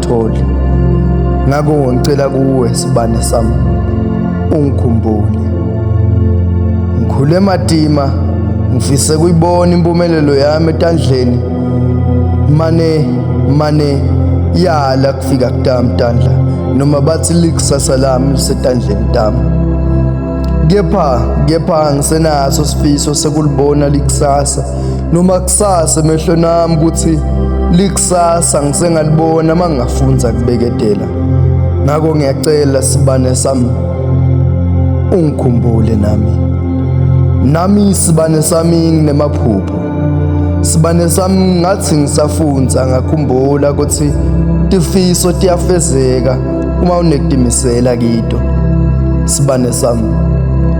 Tholi ngakho ngicela kuwe sibane sami ungikhumbule ngikhule matima ngifise kuyibona impumelelo yami etandleni mane mane yala kufika kutami tandla noma bathi likusasa lami lisetandleni tami kepha kepha ngisenaso sifiso sekulibona likusasa noma kusasa emehlo nami ukuthi likusasa ngisengalibona uma ngingafunda kubeketela ngakho ngiyacela sibane sami ungikhumbule nami nami isibane sami nginemaphupho sibane sami ngathi ngisafunda ngakhumbula ukuthi tifiso tiyafezeka uma unekutimisela kito sibane sami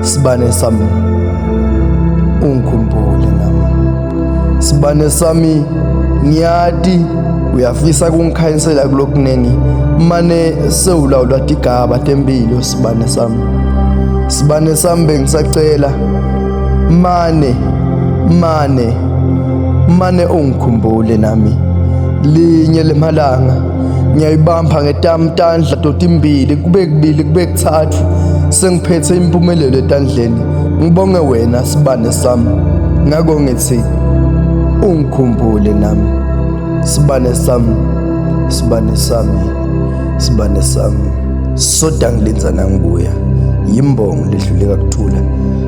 Sibane sami ungikhumbule nami Sibane sami ngiyati uyafisa kungikhanyisela kulokuningi mane sewulawula tigaba tempilo sibane sami sibane sami bengisacela mane mane mane ungikhumbule nami linye lemalanga ngiyayibamba ngetamtandla doti imbili kube kubili kube kuthathu sengiphethe impumelelo etandleni ngibonge wena sibane sami ngako ngithi ungikhumbule nami sibane sami sibane sami sibane sami soda ngilinza nangibuya yimbongo ledluleka kuthula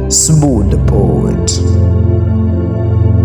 sibude poet